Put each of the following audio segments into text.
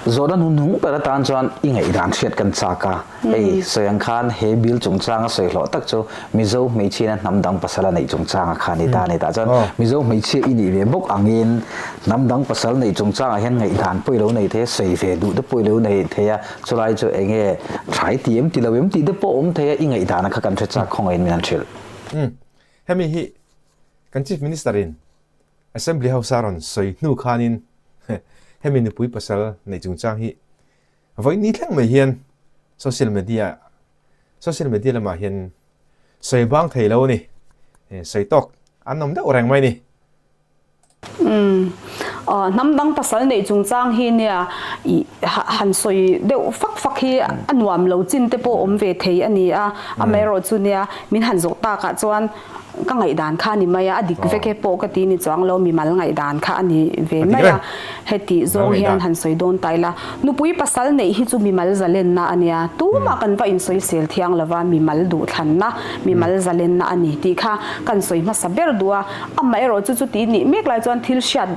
Zawhna hnu hnung ber atan chuan i ngaihdan hriat kan chak a, hei sawi ang khan he bill chungchanga sawi hlawh tak chu Mizo hmeichhiana hnam dang pasal a neih chungchanga khan i ta a ni. Tah chuan Mizo hmeichhia i nih ve bawk angin hnam dang pasal neih chungchangah hian ngaihdan pawh i lo nei thei a, sawi ve duh te pawh i lo nei thei a, chulai chu eng nge thai ti em ti lo em tih te pawh a awm thei a, i ngaihdana kha kan hre chak khawngaih in min han hrilh. Hemi hi kan Chief Minister in Assembly House-a rawn sawi hnu khanin hemi nupui pasal nei chungchang hi vawi ni thleng mai hian social media social media lamah hian sawi bang thei lo ni, sawi tawk an awm deuh reng mai ni. Umm, aw, hnam dang pasal neih chungchang hi nia han sawi deuh fak fak hi a nuam lo chin te pawh awm ve thei a ni a, amaherawhchu nia min han zawh takah chuan, Ka ngaihdan kha a ni mai a, a dik vek e pawh ka ti ni chuang lo, mimal ngaihdan kha a ni ve mai a, hetih zawng hian han sawi dawn ta ila, nupui pasal neih hi chu mimal zalenna a nia, tumah kan va insawi sel thiang lo va, mimal duhthlanna, mimal zalenna a ni tih kha kan sawi hmasa ber duh a, amaherawhchu chuti nih mek lai chuan thil hriat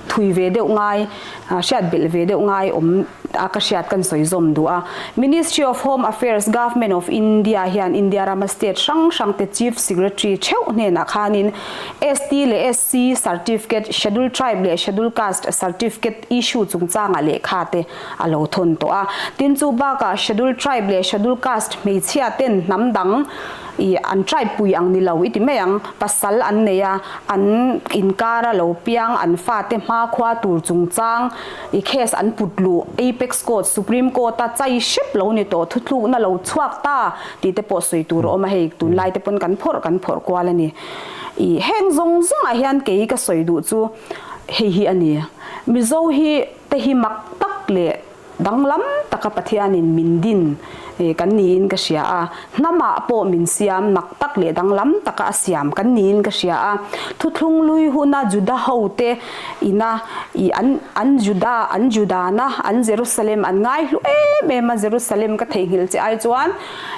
Thui ve deuh ngai, hriat belh ve deuh ngai awm a ka hriat kan sawi zawm duh a. Ministry of Home Affairs, Government of India hian India rama state hrang hrang te Chief Secretary theuh hnenah khanin ST leh SC Certificate, Schedule Tribe leh Schedule Caste Certificate issue chungchanga lehkha te a lo thawn tawh a. Tin chu bakah Schedule Tribe leh Schedule Caste hmeichhia ten hnam dang, I an tribe pui ang ni lo i ti mai ang, pasal an nei a, an inkar a lo piang, an fate hma khua tur chungchang i case an put luh, apex court, supreme court a chai hrep lo ni tawh, thuthluk na lo chhuak ta tih te pawh sawi tur a awm a, hei tunlai te pawn kan phawrh kan phawrh kual a ni. I heng zawng zawngah hian kei ka sawi duh chu hei hi a ni, Mizo hi te hi mak tak leh Danglam taka Pathianin min din kan niin ka hria a, hnamah pawh min siam nak tak leh danglam taka a siam kan niin ka hria a. Thuthlung lui huna Juda hote ina ih an an Juda, an Judana, an Jerusalem an ngai hlu em em a, Jerusalem ka theihnghilh che ai chuan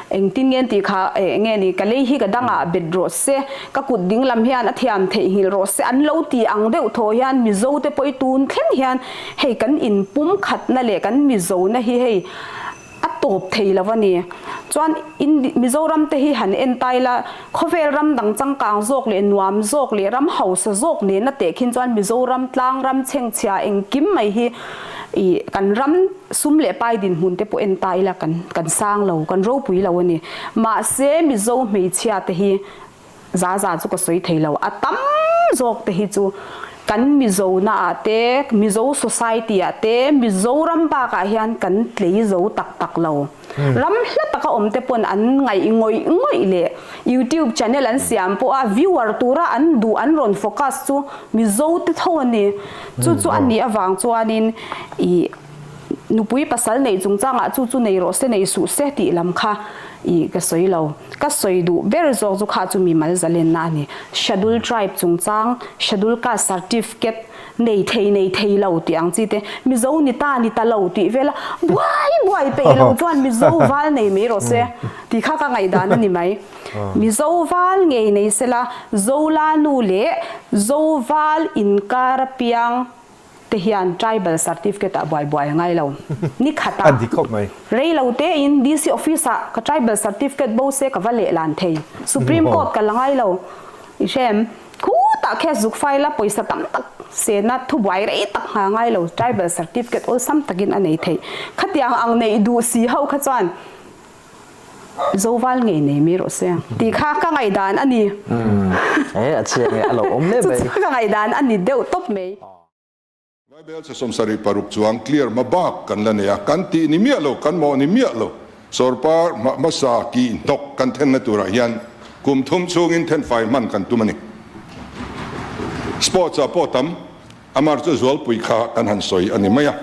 engtin nge tih kha eh nge ni ka lei hi ka dangah bet rawh se, ka kut dinglam hian a thiam theihnghilh rawh se an lo ti ang deuh thaw hian Mizote pawh i tun thleng hian Hei kan in pum khatna leh kan Mizo na hi hei a tawp thei lo a ni. Chuan in Mizoram te hi han en tai la, khawvel ram dang changkang zawk leh nuam zawk leh ram hausa zawk nena teh khin chuan Mizoram tlang ram chhengchhia engkim mai hi i kan ram sum leh pai dinhmun te pawh en ta ila kan kan sang lo, kan ropui lo a ni. Mahse Mizo hmeichhia te hi Zaza chu ka sawi thei lo, a tam zawk te hi chu kan Mizo naah te, Mizo society ah te, Mizoram bakah hian kan tlei zo tak tak lo. Ram hla taka awm te pawn an ngaih ngawih ngawih leh YouTube channel an siam pawh a viewer tura an duh an rawn focus chu Mizo te tho a ni. Chu chu a nih avang chuanin ih. Nupui pasal neih chungchangah chu chu nei rawh se nei suh se tih lam kha i ka sawi lo. Ka sawi duh ber zawk chu kha chu mi mal zalenna a ni. Schedule tribe chungchang, schedule caste certificate nei thei nei thei lo tih ang chi te Mizo ni ta ni ta lo tih vel a buai buai peih lo chuan Mizo val nei mai rawh se tih kha ka ngaihdan a ni mai. Mizo val ngei nei sela Zolanu leh Zoval inkar apiang te hian tribal certificate ah buai buai ngai lo ni khat a rei lo te in DC office ah ka tribal certificate bo se ka va leh lan thei supreme court ka la ngai lo i hrem khutah case zuk file a pawisa tam tak se na thu buai rei tak nghal ngai lo tribal certificate awlsam tak in a nei thei khatiang ang neih duh si ho kha chuan Zoval ngei nei mai rawh se. Tih kha ka ngaihdan a ni. Umm e, a chiang e, a lo awm hle mai. Chu chu ka ngaihdan a ni deuh tawp mai. Bible chi sawm sarih paruk chuang clear hma bak kan la nei a, kan tih ni miah lo, kan mawh ni miah lo. Sawrpa hma hmasa kih hnawk kan thenna turah hian kum thum chhungin thenfai hman kan tum a ni. Sports ah pawh tam. Amar chu zualpui kha kan han sawi a ni mai a.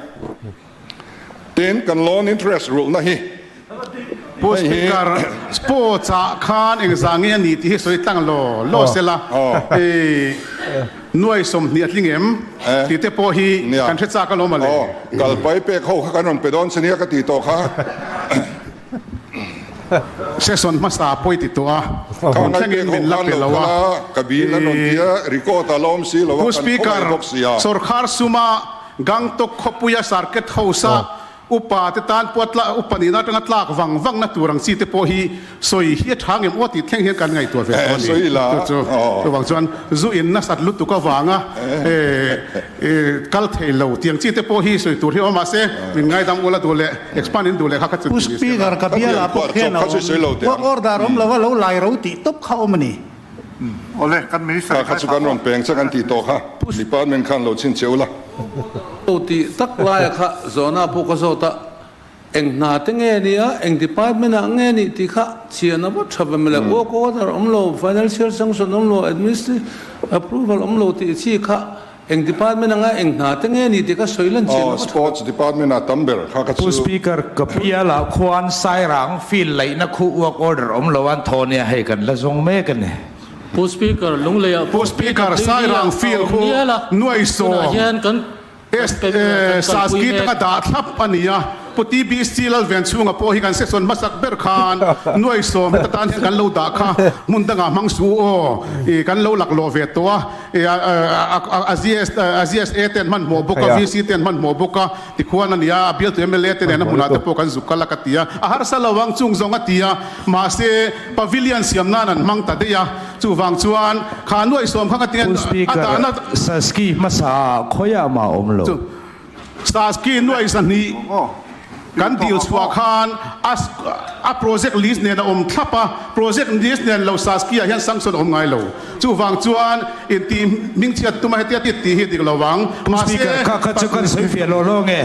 Tin, kan loan interest rulhna hi hei hi. Speaker, Sports ah khan eng za nge a ni tih hi sawi tlang lo lo se la, nuai sawmhnih a tling em tih te pawh hi kan hre chak alawm a le. Kalpai pek ho kha kan rawn pe dawn se nia ka ti tawh kha. Session hmasa pawi ti tawh a, khawn thlengin min la pe lo a. Pu Speaker, sawrkhar suma Gangtok khawpuia Circuit House-a upa te tan pawh a upa nihna atanga tlak vang vang na tur ang chi te pawh hi sawi hi a tha ngem aw tih thleng hian kan ngaihtuah ve tawh a ni. Chu chu vang chuan zu in nasat lutuk avanga I kal thei lo tiang chi te pawh hi sawi tur hi a awm mah se min ngaidam ula duh leh expand in duh leh kha kha chu ti ni se ka bial ah pawh khian a awm work order a awm lo a lo lai ro tih tawp kha a awm a ni. Awle kan minister hi khai phah awk kha kan ti tawh kha. Department khan lo chhin che ula. Aw tih tak lai ah kha zawhna pawh ka zawt a. Eng hna te nge ni a, eng department ah nge ni tih kha chhiah na vat tha ve mawle. Work order awm lo, financial sanction awm lo, administrative approval awm lo tih chi kha eng department anga eng hna te nge ni tih kha sawi lan chhiah na vat tha ve mawle. Pu Speaker, ka bial ah khuan Sairang field laih na khuh work order awm lo an thaw nia hei kan la zawng mek a ni. Pu Speaker, Lunglei ah pawh tui tak deuh deuh ila a awm bial a, tunah hian kan. SASKI te ka dah thlap a ni a, Pu TBSC lal veng chhunga pawh hi kan section hmasak ber khan nuaisawm heta tan hian kan lo dah kha hmun dangah hmang su aw i kan lo laklawh ve tawh a, a ZSA te an hmanhmawh bawk a, VC te an hmanhmawh bawk a tikhuan a ni a, a bialtu mla te nena hmunah te pawh kan zuk kal a ka ti a, a harsa lo ang chung zawng a ti a, mahse pavilion siam nan an hmang ta daih a. Chuvang chuan kha nuaih sawm kha ka tin a dan a. Saski hmasa ah khawi ah mah awm lo. Saski nuaih sahnih kan dil chhuah khan a project list nen a awm thlap a, project list nen lo Saski ah hian sanction a awm ngai lo. Chuvang chuan in tih hming chhiat tum a hetia titi hi dik lo vang. Mahse, ka sawi fiah lawh lawng e.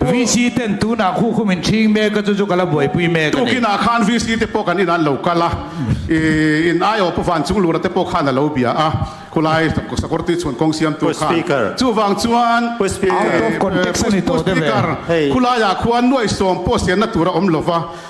VC ten tunah khu khum in thing mek a chu chu ka la buaipui mek a ni. Tukin ah khan VC te pawh kan in an lo kal a, i in ai awpa vancung lura te pawh khan a lo bia a, khulai Sakorti chhun kawng siam tu khan. Chuvang chuan Pu Speaker khulai ah khuan nuaisawm pawhsian na tur a awm lo va.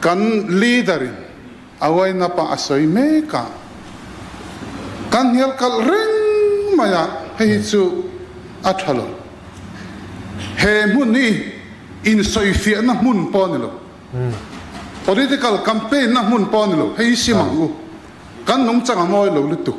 Kan leader in a wind-up a a sawi mek a, kan hnial kalh reng mai a, hei hi chu a tha lo. He hmun hi insawifiahna hmun pawh a ni lo, political campaign-na hmun pawh a ni lo, hei hi sim ang u, kan nungchang a ngawi lo lutuk.